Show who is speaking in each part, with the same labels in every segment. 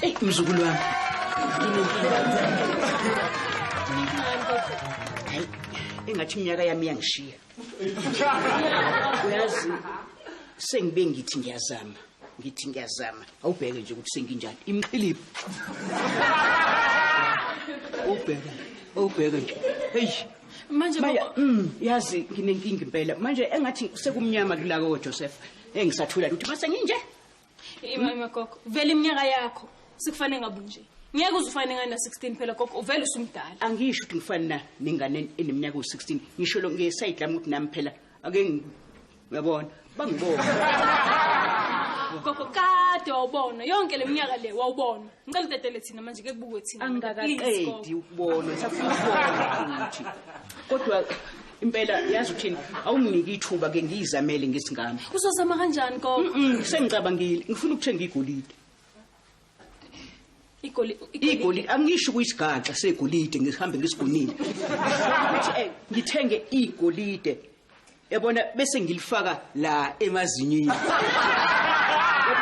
Speaker 1: Ey mzukulu wami. Hayi engathi iminyaka yami iyangishiya. Uyazi sengibe ngithi ngiyazama ngithi ngiyazama awubheke nje ukuthi senginjani imqhilibi ubheke ubheke nje hey manje Maya,
Speaker 2: mm, yazi
Speaker 1: nginenkinga impela manje engathi sekumnyama kulako Joseph engisathula ukuthi mase nginje Imama
Speaker 2: gogo, vele iminyaka yakho sikufane ngabu nje. Ngeke uzufane ngana 16 phela gogo, uvele usumdala. Angisho ukuthi ngifana na
Speaker 1: nengane eneminyaka u16. Ngisho lo ngesayidi lami ukuthi nami phela ake ngi- uyabona bangibona.
Speaker 2: Gogo kade wawubona yonke leminyaka le wawubona. Ngicela utetele thina manje ke kubukwe thina. Please, gogo. Angikaqedi
Speaker 1: ukubona, safuna ukubona futhi. Kodwa impela yazi uthini awunginiki ithuba ke ngiyizamele ngesingane uzozama kanjani
Speaker 2: gogo Mm, sengicabangile ngifuna
Speaker 1: ukuthenga igolide
Speaker 2: igoli igolide angisho ukuyisigaxa
Speaker 1: segolide ngihambe ngisigonile ukuthi eh, ngithenge igolide yabona bese ngilifaka la emazinyini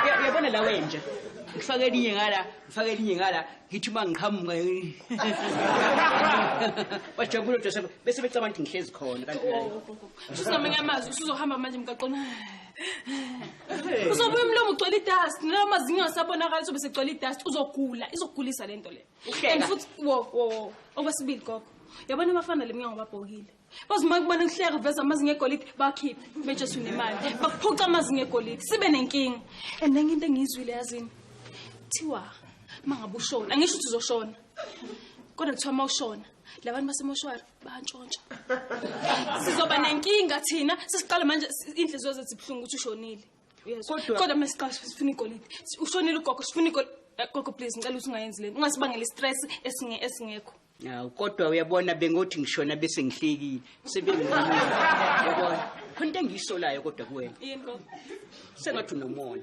Speaker 1: Yab- yabona la wenja ngifake elinye ngala ngifake elinye ngala ngithi uma ngiqhamuka bajabule odwa sabo bese becabanga ukuthi ngihlezi khona kanti la usuzamanye amazwi
Speaker 2: usuzohamba manje mgaqona uzobuya umlomo ugcwele idust nala mazinyo asabonakala sobe segcwele idust uzogula izogulisa le nto le Uhleka. and futhi wo wo wo okwesibili gogo yabona abafana le mnyango babhokile bazi uma kubona kuhleka uveza amazinga egolide bakhiphe beje sunemali bakuphuca amazinga egolide sibe nenkinga and enye into engiyizwile yazini kuthiwa uma ngabe ushona angisho ukuthi uzoshona kodwa kuthiwa uma ushona labantu basemoshwari bantshontsha sizoba nenkinga thina sesiqala manje inhliziyo zethu zibuhlungu ukuthi ushonile kodwa uma siqala sifuna igolide ushonile ugogo sifuna igolide eh, gogo please ngicela ukuthi ungayenzi lento ungasibangela istress esingekho Awu kodwa
Speaker 1: uyabona bengothi ngishona bese ngihlekile. Sebengimile. Yabona. Khona into engiyisolayo kodwa kuwena. Into
Speaker 2: sengathi
Speaker 1: unomona.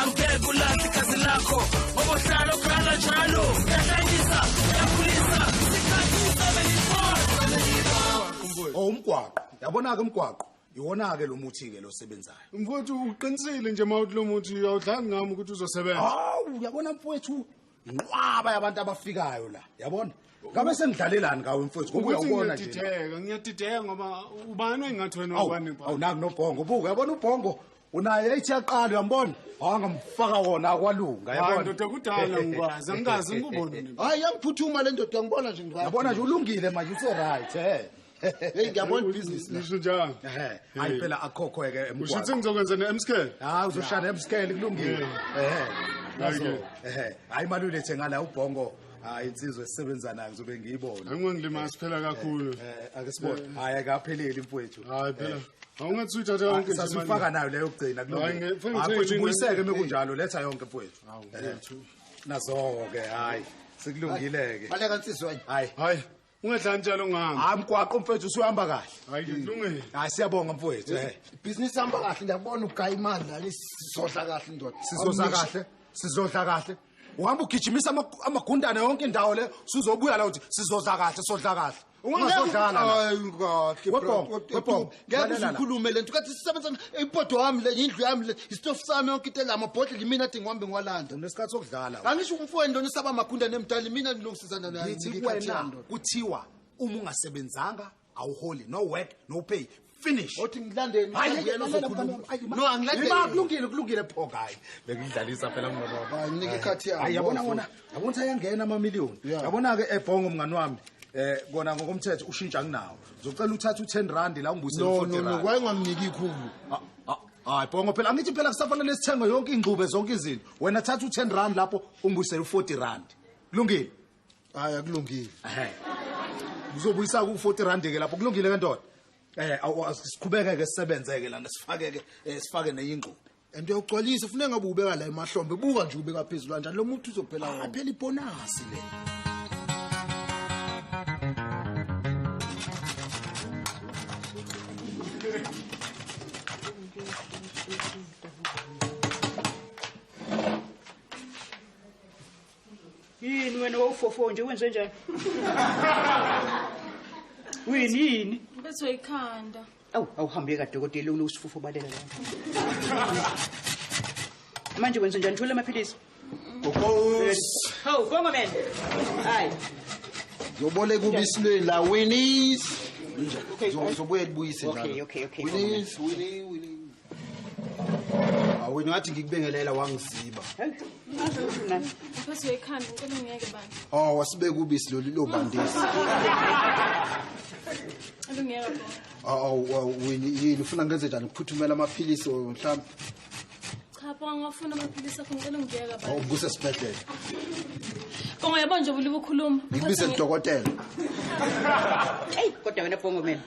Speaker 3: angeke ulahle igazi lakho ngoba uhlala ukhala njalo uyahlanyisa uyakhulisa isikhathi usebenzibona oh, umgwaqo yabona-ke umgwaqo iwona-ke lo muthi-ke lo sebenzayo mfowethu uqinisile
Speaker 4: nje ma uthi lo muthi awudlali ngami ukuthi uzosebenza hawu uyabona
Speaker 3: mfowethu inqwaba yabantu abafikayo la yabona ngabe sengidlalelani ngawe mfowethu ngoba uyawubona nje ngiyadideka ngiyadideka ngoba
Speaker 4: ubani engathi wena ubani awu naku nobhongo
Speaker 3: buka yabona ubhongo unaye ethi yaqala uyambona wangamfaka wona akwalunga Hayi, yabona ndoda kudala
Speaker 4: ngikwazi angikaze ngikubone nini. hayi yangiphuthuma le
Speaker 5: ndoda ngibona nje ngiba- yabona nje ulungile manje
Speaker 3: useright eh Hey,
Speaker 5: ngiyabona business la. Ngisho njalo. Ehhe,
Speaker 4: hayi Hey. phela
Speaker 3: akhokho-ke ke Usho ukuthi emgwaqo ngizokwenza ne-emscale
Speaker 4: hayi uzoshaya
Speaker 3: emsikele kulungile ehhe Hayi-ke. Nazo. ehhe hayi imali uyilethe ngala ubhongo hayi insizwe sisebenza nayo ngizobe ngiyibona angingilimazi siphela
Speaker 4: kakhulu eh, eh, ake sibone eh.
Speaker 3: hayi akapheleli mfowethu hayi phela
Speaker 4: awungathi uyithatha yonke nje sasifaka nayo leyo
Speaker 3: kugcina kulomfowethu ubuyiseke mekunjalo letha yonke mfowethu nazo-ke hayi sekulungile-ke baleka nsizweni hayi
Speaker 5: hayi
Speaker 3: ungadlali njalo
Speaker 4: ngami hayi mgwaqo mfethu usuhamba
Speaker 3: kahle hayi kulungile
Speaker 4: hmm. hayi siyabonga mfowethu
Speaker 3: eh business hamba
Speaker 5: kahle ndiyabona ugaya imali la sizodla kahle ndoda sizodla kahle sizodla
Speaker 3: kahle uhamba ugijimisa amagundane yonke indawo le usuzobuya la uthi sizodla kahle sodla kahle ungazodlala webhongo
Speaker 5: webhongo ngeke uzikhulume lento kathi sisebenza ipoto wami le indlu yami le istofu sami yonke into elama bhodlela imina athi ngihambe ngiwalanda unesikhathi sokudlala
Speaker 3: angisho umfweni lona usaba
Speaker 5: magunda nemdala imina ngilungisizana naye ngithi wena
Speaker 3: kuthiwa uma ungasebenzanga awuholi no work no pay finish othi ngilandeni
Speaker 5: uyena uzokhuluma no angilandeni kulungile kulungile pho kayi
Speaker 3: bekudlalisa phela mngoba nginike ikhathi yami hayi
Speaker 5: yabona wona yabona ukuthi
Speaker 3: ayangena amamiliyoni Yeah. yabona-ke ebhongo mngani wami eh kona ngokomthetho ushintsha anginawo ngizocela uthathe u-ten rand la ungibuyisele no u-40 no no rand. kwaye ungamniki ikhulu
Speaker 5: Ah, ah, hayi
Speaker 3: bhongo phela angithi phela kusafanele sithenge yonke ingxube zonke izinto wena thatha u-ten rand lapho ungibuyisele u-forty rand kulungile hayi
Speaker 5: akulungile Ehhe. ngizobuyisa
Speaker 3: ku-forty rand-ke lapho kulungile ke ndoda um siqhubeke-ke sisebenzeke lana sifake-ke um sifake nenye ingxube and
Speaker 5: uyawugcwalisa funeka ngabe ubeka la emahlombe buka nje ubeka phezulu kanjani lo muntu uzophela wona aphela ibonasi le
Speaker 3: yini
Speaker 1: wena wawufofo nje wenze njani wini yini Bethwe
Speaker 2: ikhanda. Awu awuhambe
Speaker 1: kadokotela unosifufo balela la. Manje wenza njani thola amaphilisi? Gogoz. Hawu bonga man. Hayi.
Speaker 5: Yobole kubisilwe la Winnie's. Okay. Zobuye libuyise njalo. Okay, okay, okay. Winnie's,
Speaker 1: Winnie,
Speaker 5: Winnie. awena ngathi ngikubengelela wangiziba
Speaker 2: oh wasibeka ubisi
Speaker 5: lolu lobandisi yini ufuna ngenze njani ukuphuthumela amaphilisi
Speaker 2: mhlawumbe ngikuse sibhedlela bongo yabona nje ubuliba ukhuluma ngikubize lidokotela
Speaker 1: eyi kodwa wena bongo mina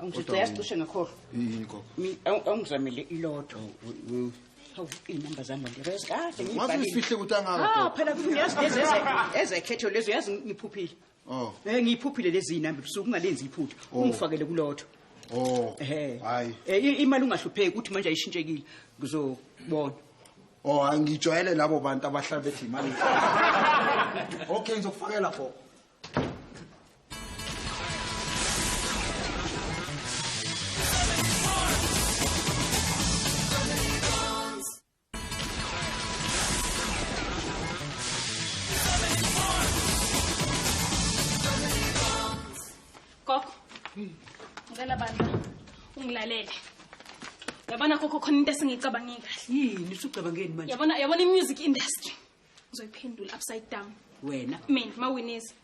Speaker 1: Angijaya sicishe ngakhohlwa. Yini
Speaker 5: gogo? Awungizamele
Speaker 1: ilodwa. Hawu inamba zami nje bese kahle ngibhalile. Wathi usifihle ukuthi angaka.
Speaker 5: Ah phela kufuna yazi lezi
Speaker 1: ezekhetho lezo yazi ngiphuphile. Oh. Eh ngiyiphuphile lezi inamba busuku ungalenzi iphutha. Oh. Ungifakele kulodwa. Oh. Eh. Hayi. Eh imali ungahlupheki ukuthi manje ayishintshekile. Ngizobona. Oh
Speaker 5: angijwayele labo bantu abahlala bethi imali. Okay ngizokufakela gogo.
Speaker 2: ngicela bandla ungilalele yabona kokho khona into esingiyicabangile kahle yini usucabangeni
Speaker 1: manje yabona yabona i-music
Speaker 2: industry ngizoyiphendula upside down wena mina
Speaker 1: mawinisa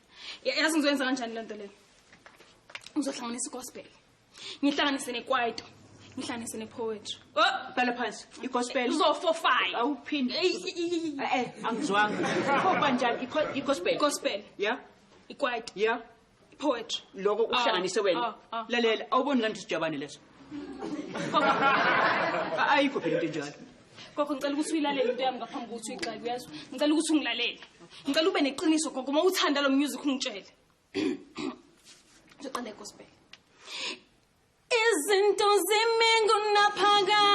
Speaker 2: Ya- yazi ngizoyenza kanjani le nto leyo ngizohlanganisa igospel ngihlanganise nekwaito ngihlanganise nepoetry Oh, bhala phansi
Speaker 1: igospel uzofofaya
Speaker 2: awuphinde
Speaker 1: eh angizwanga khoba njani igospel igospel
Speaker 2: ya
Speaker 1: ikwaito ya poetry
Speaker 2: loko uhlanganise
Speaker 1: ah, wena ah, ah. lalela awuboni kanti sijabane leso ayikho phela into enjalo gogo ngicela ukuthi
Speaker 2: uyilalele into yami ngaphambi kokuthi uyixake uyezwa ngicela ukuthi ungilalele ngicela ube neqiniso gogo uma uthanda lo music ungitshele ngizoqala egospel izinto zimi ngunaphakade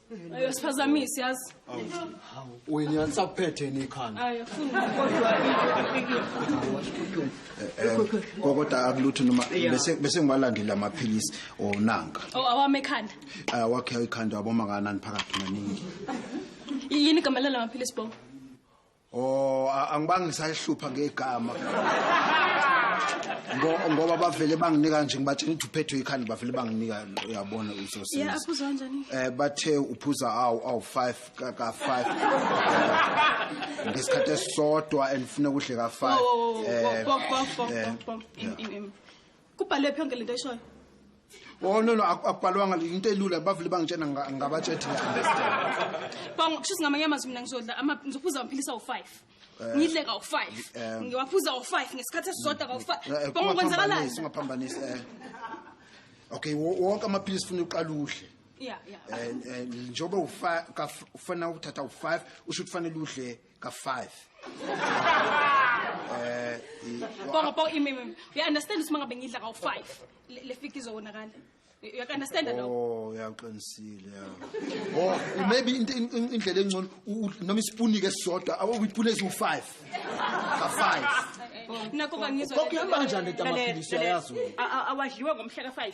Speaker 2: Ayo siphazamisi
Speaker 5: yazi. Wena nisaphethe ni
Speaker 2: ikhanda.
Speaker 5: Ayo funa kodwa Kokota eh, eh, akulutho noma bese bese ngiwalandela amaphilisi onanka. Oh awame ekhanda.
Speaker 2: Ah wakhe ikhanda
Speaker 5: waboma kanani phakathi maningi.
Speaker 2: Yini igama lala maphilisi bo? Oh a- angibange
Speaker 5: ngisayihlupha ngegama. Ngo- Ngoba bavele banginika nje ngibatshela ukuthi uphethwe ikhanda bavele banginika uyabona ya usosenzi. aphuza
Speaker 2: kanjani Eh bathe uphuza
Speaker 5: awu awu 5 ka ka 5. Ngesikhathi esisodwa and ufuna ukudle ka 5. Eh
Speaker 2: kubhalwe phi yonke lento ishoyo Oh no
Speaker 5: no akubhalwanga into elula bavule bangitshena ngabatshethi understand. Bongo
Speaker 2: kusho ngamanye amazwi mina ngizodla ama ngizophuza amaphilisi awu 5. Eh, Ngidle ka 5. Eh. Ngiwaphuza u 5 ngesikhathi esisodwa ka 5. Eh, Bongo kwenzakalani? Singaphambanisi
Speaker 5: eh. Okay wonke amaphilisi ufuna uqala udle.
Speaker 2: Yeah yeah. Eh
Speaker 5: njengoba ufana ukuthatha u 5 usho ukuthi kufanele udle ka five
Speaker 2: eh bongo bongo imimi we understand ukuthi mangabe ngidla ka five le fika izowonakala you can understand that oh uyaqinisile
Speaker 5: ya oh maybe indlela engcono noma isipuni ke sisodwa awuyipuni eziwu 5 ka 5
Speaker 2: nakho bangizwa kokuyamba kanjani le
Speaker 5: tamaphilisi ayazi awadliwe ngomhla
Speaker 1: ka 5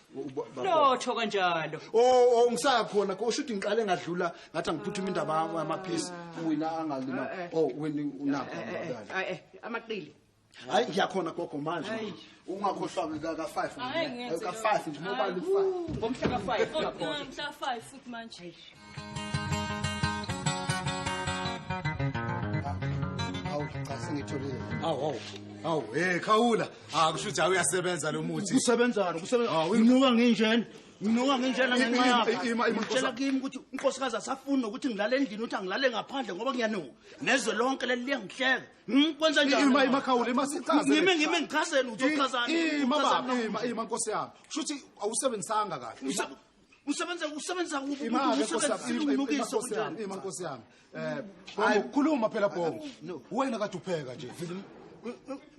Speaker 1: lotho kanjalo oh oh ngisakhona
Speaker 5: ko shuthi ngiqale ngadlula ngathi angiphuthuma indaba yamaphisi wena angalima eh, eh. oh wena unakho eh,
Speaker 1: amaqili hayi
Speaker 5: ngiyakhona gogo manje ungakhohlwa ka ka 5 ka 5 nje mobile 5 ngomhla ka 5 ngomhla
Speaker 1: ka 5 futhi
Speaker 2: manje
Speaker 5: Awu cha sengitholile. Awu awu. Awu hey
Speaker 3: khawula. Ah kusho ukuthi awuyasebenza lo muthi. Kusebenzana kusebenza. Ah,
Speaker 6: Nginuka nginjena. Nginuka nginjena Ima, ngenxa ima, yakho. ima, ima, Ngitshela Nkosi. kimi ukuthi unkosikazi asafuni nokuthi ngilale endlini ukuthi angilale ngaphandle ngoba ngiyanuka. Nezwe lonke leli liyangihleka. Hmm, Kwenza njani? Ima ima khawula ima sichaze.
Speaker 3: Ngime ngime ngichazeni
Speaker 6: uzochazani? Ima Uchazani? baba ima
Speaker 3: ima nkosi yami. Kusho ukuthi awusebenzisanga kahle. Usa- usebenza
Speaker 6: usebenza kuphi Ima, Uma nkosi usebenza yami, ima, ima, umbukiso nkosi
Speaker 3: yami, kunjani ima, nkosi yami. Eh, Hayi, Bongo, khuluma phela Bongo. No. Wena kade upheka nje.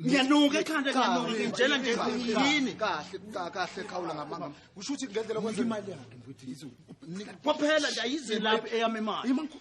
Speaker 3: ngiyanuka
Speaker 6: ekhanda ngiyanuka Kahle, ngitshela nje kahle, yini kahle ka- kahle
Speaker 5: khawula ngamanga kusho ukuthi ngendlela Nika kwenzeka
Speaker 3: imali yakhe mfundisi. kwaphela
Speaker 6: nje ayize lapho eyami imali Ima, nko-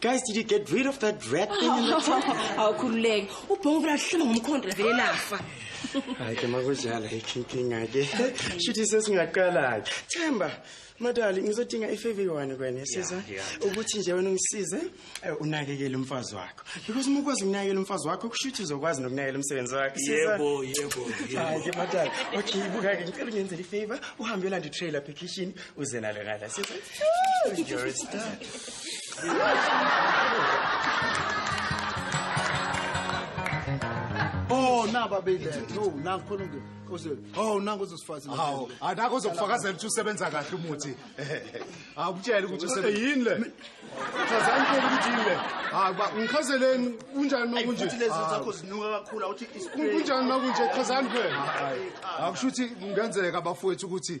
Speaker 7: Guys, did you get rid of that rat thing in the trunk? Awukhululeke.
Speaker 2: Ubhongo vela hlama ngomkhondo la vele lafa. Hayi ke
Speaker 7: makujala ikinkinga ke. Shuthi sesingaqala ke. Themba, madali ngizodinga ifavor yone kwena siza ukuthi nje wena ungisize eh, unakekele umfazi wakho. Because uma ukwazi ukunakekela umfazi wakho kushuthi uzokwazi nokunakekela umsebenzi wakhe. Siza. Yebo, yebo, yebo.
Speaker 8: Hayi ke
Speaker 7: madali. Okay, buka ke ngicela ungenzele ifavor uhambe yolanda itrailer application uze nalo ngala sithi you're a star
Speaker 5: Oh naba bile no nangikhona ngi ose oh nangu uzosifazi hawo anako
Speaker 3: uzokufakazela ukuthi usebenza kahle umuthi awutshela ukuthi usebenza yini le
Speaker 4: chazani ke ukuthi yini le hayi ba ngichazeleni kunjani nokunje futhi lezi zakho zinuka
Speaker 6: kakhulu awuthi kunjani nokunje
Speaker 4: chazani phela akusho ukuthi
Speaker 3: kungenzeka bafowethu ukuthi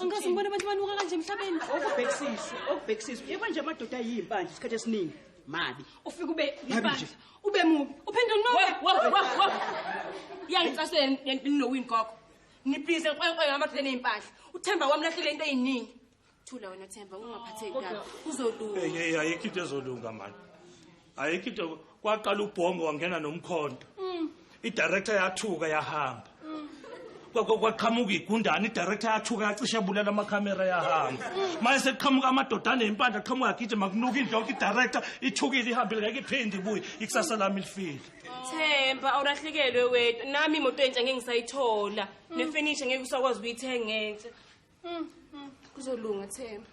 Speaker 2: angikaze ngibone abantu banuka
Speaker 1: kanje
Speaker 2: emhlabeni okubhekisisa
Speaker 1: okubhekisisa
Speaker 2: yebo
Speaker 1: nje amadoda
Speaker 2: ayiyimpandla
Speaker 1: isikhathi
Speaker 2: esiningi
Speaker 1: mabi ufike ube
Speaker 2: yipandla ube mubi uphinde unoke yangicasele ninowini gogo nibhize nkwenkwe ngamadoda eneyimpahla uthemba wami lahlele into eyiningi thula wena themba ungaphatheki kabi uzolunga ayikho into
Speaker 8: ezolunga mani ayikho into kwaqala ubhongo wangena nomkhonto mm. idirector yathuka yahamba mm. kwaqhamuka igundane idirector yathuka yacishe bulela amakhamera yahamba mm. manje sekuqhamuka amadoda aney'mpandla qhamuka agijima kunuka indlu yonke idirector ithukile ihambile ngeke iphinde ibuye ikusasa lami lifile themba
Speaker 2: awulahlekelwe wena nami imoto entsha ngeke ngisayithola nefenisha ngeke usakwazi ukuyithenga entsha Mm, mm. Kuzolunga Themba.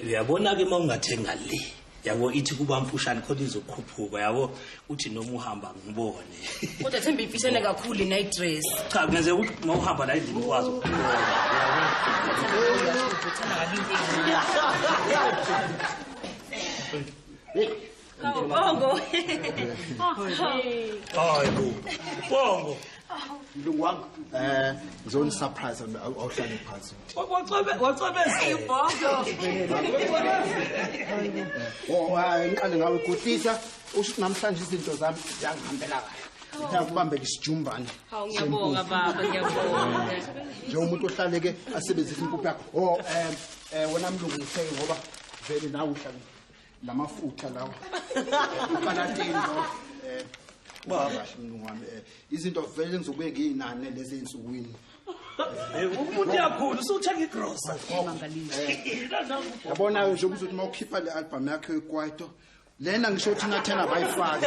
Speaker 9: uyabona-ke uma ungathenga le yabo ithi kuba mfushane khona izokhuphuka yabo uthi noma uhamba ngibone kodwa themba
Speaker 2: imfishane kakhulu ina idress cha kungenzeka ukuthi uma
Speaker 9: uhamba la endlini ukwazi Bongo.
Speaker 2: Hayi
Speaker 8: bo. Bongo. mlungu
Speaker 5: wami um ngizonisurprise awuhlale phansi
Speaker 2: ngiqale
Speaker 5: ngawe gudlisa usho ukuthi namhlanje izinto zami ziyangihambela kahle ngiyakubambela isijumbane ngiyabonga
Speaker 2: baba ngiyabonga njengomuntu
Speaker 5: ohlale ke asebenzisa impuphu yakho o um wena mlungu ngitheke ngoba vele nawe uhlale la mafutha lawa ipalatini lawa eh baba kahle mlungu wami eh, izinto vele ngizobuye ngiyinane lezi ensukwini Eh,
Speaker 9: umuntu uyakhula usuthenga igrosa
Speaker 5: yabona nje ukuthi uma ukhipha le album yakhe ekwaito lena ngisho ukuthi nathena bayifake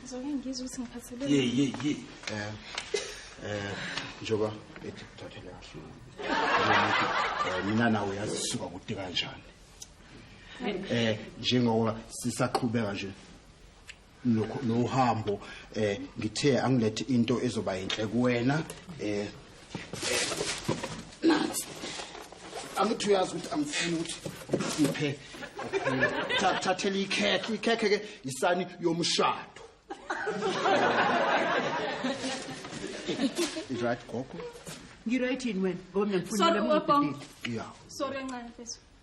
Speaker 2: Ngizoke ngizwe ukuthi ngiphathele. Ye ye ye. Eh.
Speaker 5: Eh, njoba ethi kuthathele kahle. Eh, mina nawe yazi suka kude kanjani. Eh, njengoba sisaqhubeka nje nohambo eh ngithe angilethe into ezoba yinhle kuwena eh nansi amuthi uyazi ukuthi angifuni ukuthi ngiphe thathela ikhekhe ikhekhe ke yisani yomshado right gogo ngiright yini
Speaker 1: wena ngoba mina ngifuna le muntu
Speaker 2: ya
Speaker 1: sorry
Speaker 5: ncane mfethu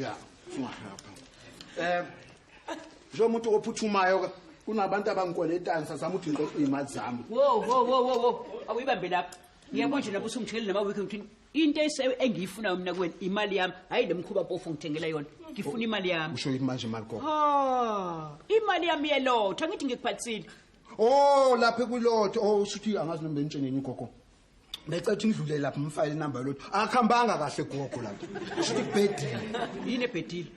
Speaker 5: ya sungahapha um njengomuntu ophuthumayo ke kunabantu abangikweletayo sasama ukuthi ngixoxa iy'mali zami wo wo wo wo wo
Speaker 1: awuyibambe lapho ngiyabona nje lapho usungitshekele namawiki ngithini into ese- engiyifunayo mina kuwena imali yami hhayi le mkhuba mpofu ngithengela yona ngifuna imali yami usho yini manje imali gogo
Speaker 5: Ah, imali
Speaker 1: yami yelotha ngithi ngikuphathisile o
Speaker 5: lapha kulotho o shuthi angazi noma benitsheneni gogo becetha indlule lapha umfayile inamba yolotho akakhambanga kahle gogo lapho sho ukuthi kubhedile yini ebhedile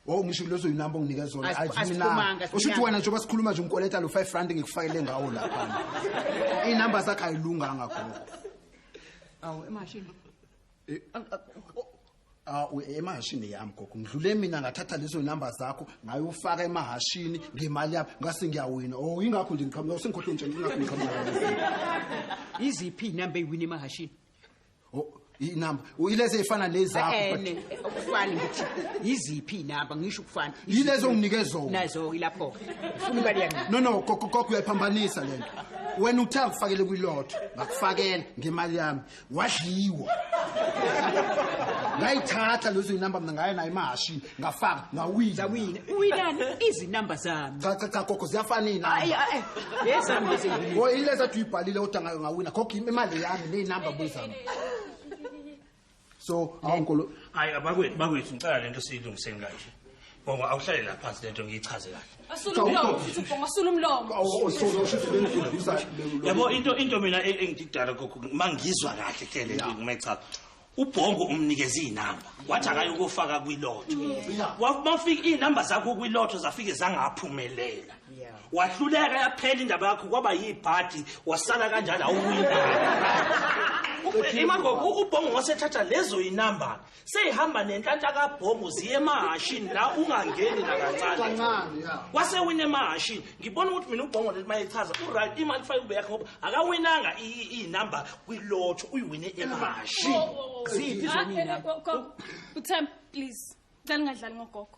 Speaker 1: Oh ngisho
Speaker 5: lezo inamba unginike zona aziminanga usho ukuthi
Speaker 1: wena njengoba
Speaker 5: sikhuluma nje ungikoleta lo 5 rand ngikufakele ngawo lapha inamba zakhe ayilunganga gogo
Speaker 1: awu emashini eh,
Speaker 5: Ah, u- emahashini yami gogo ngidlule mina ngathatha lezo namba zakho ngayofaka emahashini ngemali yami ngase ngiyawina o yingakho nje ngiqhamuka sengikhohlwe nje ngingakho ngiqhamuka iziphi
Speaker 1: inamba eyiwini emahashini
Speaker 5: inamba ilezi eyifana nezakho ene ukufana
Speaker 1: ngithi yiziphi inamba ngisho ukufana Yilezo onginike zona.
Speaker 5: nazo ilapho
Speaker 1: ufuna imali yami no no gogo gogo
Speaker 5: uyayiphambanisa lento wena uthe akufakele kwilotho ngakufakela ngemali yami wadliwa ngayithatha lezo inamba mina ngaye nayo imahashini ngafaka ngawina zawina uwinani
Speaker 1: izinamba zami cha cha cha gogo ziyafana
Speaker 5: ayi inamba ayi
Speaker 1: lezami lezi ngibili. o ileza tu
Speaker 5: ibhalile kodwa ngayo ngawina khokho imali yami neyinamba buyizami so awunkolo hayi abakwethu
Speaker 8: bakwethu ngicela lento siyilungiseni kanje Bongo awuhlale la phansi lento ngiyichaze kahle. Asula umlomo futhi ubonga
Speaker 2: asula umlomo. Awusolo usho ukuthi bengiduduza
Speaker 8: lelo. Yabo into into mina e- engididala kokho mangizwa kahle ke le nto ngimechaza. Ubhongo umnikeza izinamba wathi akaye ukufaka kwilotho. Wafika izinamba zakho kwilotho zafike zangaphumelela. Wahluleka yaphela indaba yakho kwaba yibhadi wasala kanjalo awuwina. Imagoko ubhongo wasethatha lezo inamba seyihamba nenhlanhla kabhomu ziye emahashini la ungangeni nakancane wase wina emahashini ngibona ukuthi mina ubhongo leli mayechaza uright imali fake ube yakhe ngoba akawinanga iyinumber kwilotho uyiwine emahashini ziphi
Speaker 1: zomina uthemba
Speaker 2: please cela ungadlali ngogogo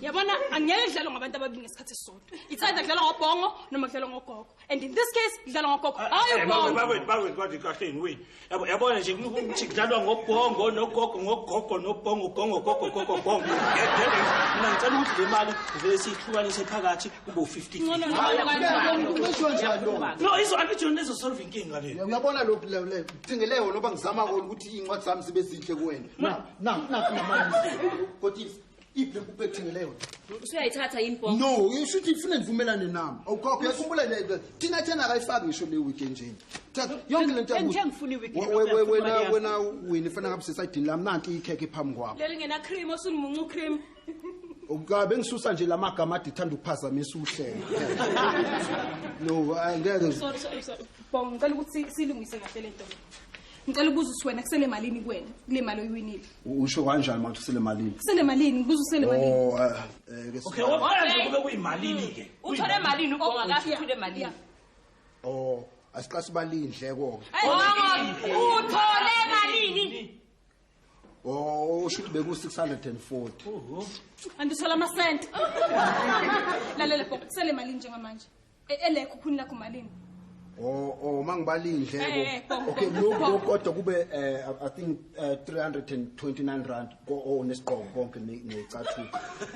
Speaker 2: yabona angeke kudlalwa ngabantu ababili ngesikhathi esisodwa ithanda kudlalwa ngobhongo noma kudlalwa ngogogo and in this case kudlalwa ngogogo ah, hayi eh, ubhongo bakwethu bakwethu kwathi kahle yini
Speaker 8: wini yabo yabona nje ukuthi kudlalwa ngobhongo nogogo ngogogo nobhongo gongo gogo gogo bongo mina ngicela ukuthi le mali vele siyihlukanise phakathi kube u-15 no izo angithi yona ezosolva inkinga le uyabona lokhu
Speaker 5: thingeleko noba ngizama kona ukuthi iy'ncwadi zami zibe zinhle kuwena na na na kodisa iphi lempuphu ethengele yona usuyayithatha
Speaker 10: yini bho no ishuthi ifune
Speaker 5: ndivumelane nami awukhokho uyakhumbula thina thena akayifaki ngisho le wiki enjeni yonke le ntowena
Speaker 1: wini
Speaker 5: fana ngabe sesaydini lami nanti ikhekhe phambi kwakho leli ngenacream osunimunca
Speaker 2: ucream ukabe
Speaker 5: ngisusa nje lamagama adithanda ukuphazamisa uhlelo no angeke ngicela
Speaker 2: ukuthi silungise kahle lento ngicela ubuza ukuthi wena kusele malini kuwena kule mali oyiwinile usho kanjani manje
Speaker 5: usele malini kusele malini ngibuza
Speaker 2: usele malini oh eh, eh, ke okay
Speaker 8: wabona nje kube kuyimalini ke mm. uthole malini
Speaker 10: ubonga oh, kahle uthule malini oh asiqasi
Speaker 5: balindleko ke oh,
Speaker 10: uthole malini
Speaker 5: Oh, usho ukuthi beku 640. Oho.
Speaker 2: Andithola ama cent. Lalela bho, sele mali njengamanje. E, Elekho khuni lakho malini? Oh, oh
Speaker 5: mangibali Eh, eh, indleko. bho, Okay, bho, lokho bho. lokho kodwa kube eh, I- I think eh, 329 rand ko oh nesigqoko konke ne- necathulo.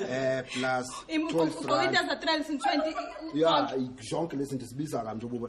Speaker 5: Eh plus 12 Uqoka
Speaker 2: rand. into za 320. Yeah,
Speaker 5: zonke lezi zinto sibiza kanje ububa.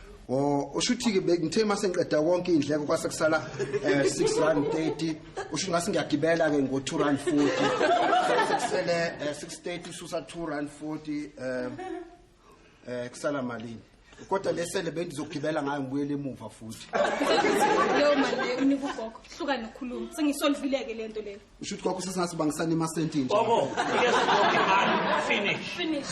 Speaker 2: Oh
Speaker 5: ushuthi ke ngithe mase ngiqeda konke indleko kwase kusala eh 6 rand 30 usho ngase ngiyagibela ke ngo 2 rand 40 sekusele eh, 630 ususa 2 rand 40 eh eh kusala malini kodwa lesele bendizogibela ngayo ngibuyele emuva futhi leyo mali leyo
Speaker 2: unika ugogo hluka nokhuluma sengisolvileke le nto leyo usho ukuthi gogo sesingathi
Speaker 5: bangisane imasenti nje
Speaker 8: gogo finish
Speaker 2: finish